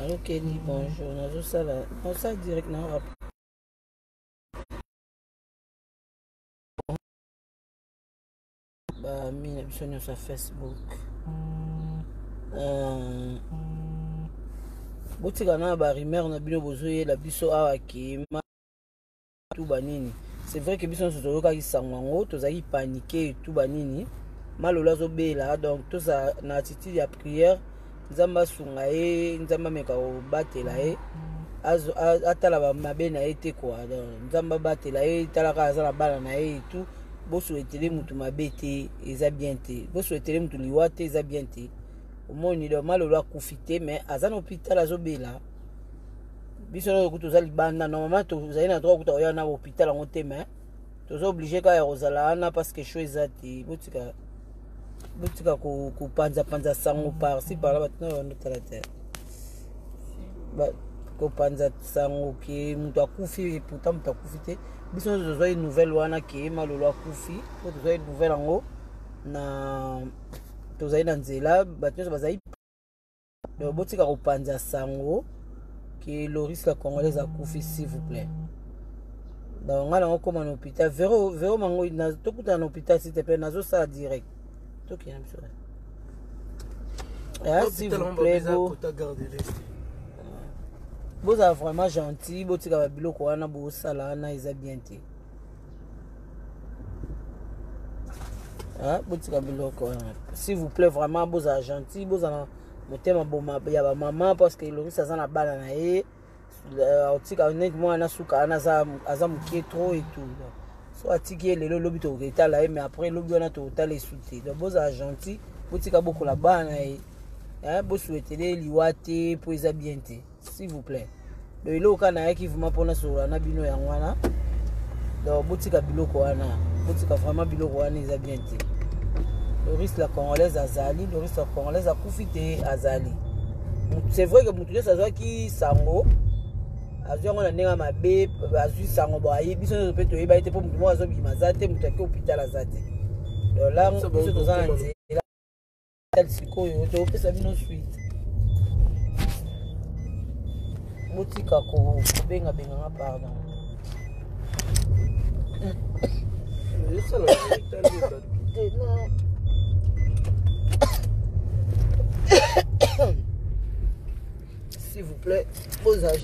Allô Kelly, bonjour. Nazo sala, on sala direct na rap. Ba mina biso nyo sa Facebook. Euh, botika na ba rumeur na bino bozoyela biso awa kima tuba nini c'est vrai que biso nyonso toyokaki sango yango tozalaki panike tuba nini malolo azobela donc tozala na attitude ya prière nzambe asunga ye nzambe ameka kobatela ye atala bamabe na ye te kua nzambe abatela ye talaka aza na bana na ye etout bosuetele mutu mabe te eza bien te bosuetele mutu liwa te eza bien te omoni donc malolo akufi te mais aza na hôpital azobela biso nayo kutu toza libanda normalement tozali na droit kuta oya na hôpital yango te mais toza oblige kaka ya kozala wana parce que cho eza te botika botika kopanzapanza sango parci parla bato nayo bando tala te kopanza sango ke moto akufi pourtant moto akufi te biso nyonso tozwaki nouvelle wana ke malolo akufi po tozwaki nouvelle yango na tozali na nzela bato nyonso bazali donc botika kopanza sango ke loris la congolaise akufi s'il vous plaît donc ngai nango koma na hôpital vero vero mango tokutana na hôpital s'il te plaît nazosala direct tokende biso ah, s'il vous plaît bo bozala vraiment gentil botika babiloko wana bosala wana eza bien te Ah, botika biloko wana s'il vous plaît vraiment bozala gentil bozala motema boma ya bamama parce que elongisi aza na bana na ye euh, otika neti mwana na suka wana aza mokie trop etout so atiki ye lelo lobi toketala ye mais après lobi wana tokotala esu te donc bozala gentil botika bokola bana na ye bosuetele liwa te mpo eza bien te s'il vous plaît donc eloko kaka nayaki vraimen mpona solola na bino yango wana donc botika biloko wana botika vraiment biloko wana eza bien te loris la congolaise azali loris la congolaise akufi te azali c'est vrai que moto nyonso azwaki sango azwi yango na ndenge ya mabe azwi sango boye biso nyonso mpe toyebaki te mpo moto moko azobima aza te moto yaki hôpital aza te donc la biso toza na nzela sikoyo tokopesa bino suite botika kobengabenga nga pardon s'il vous plaît bozage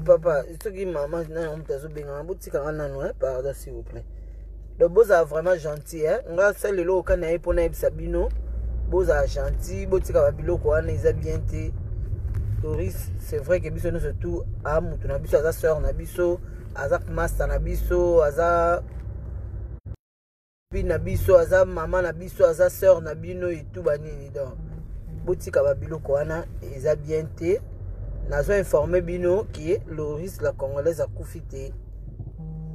papa soki mama nayo moto azobengana botikanga nano eh? pardon s'il vous plaît donc bozala vraiment gentil eh? nga sa lelo oka na ye mpo nayebisa bino bozala gentil botika babiloko wana eza bien te doris c'est vrai ke biso nyonso tout a moto na biso aza sœur na biso aza masta na biso aza Puis na biso aza maman na biso aza sœur na bino et tout ba nini donc botika ba biloko wana eza bien te nazo informer bino que Loris la congolaise akufi te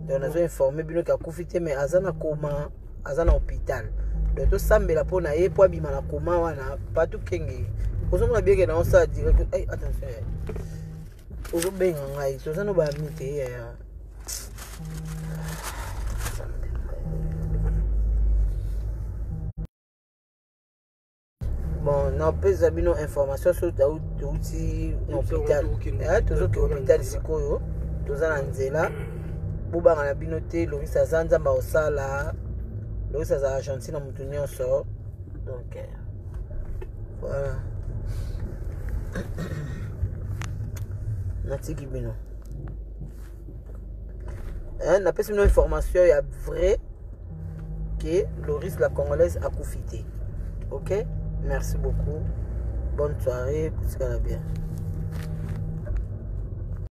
donc nazo informer bino que akufi te mais aza na koma aza na hôpital donc tosambela mpo na ye mpo abima na koma wana patu kenge ozomona bieke na osala direct hey, attention ozobenga ngai toza no baami te yaya bon napesa bino information so touti na hôpital eh, tozoki hôpital sikoyo toza na nzela bobanga na bino te longisa aza nzambe akosala longisa aza argentine na motu nyonso donc eh. voilà natiki bino hein, napesi bino information ya vrai que loris la congolaise akufi te ok merci beaucoup bonne soirée kotikala bien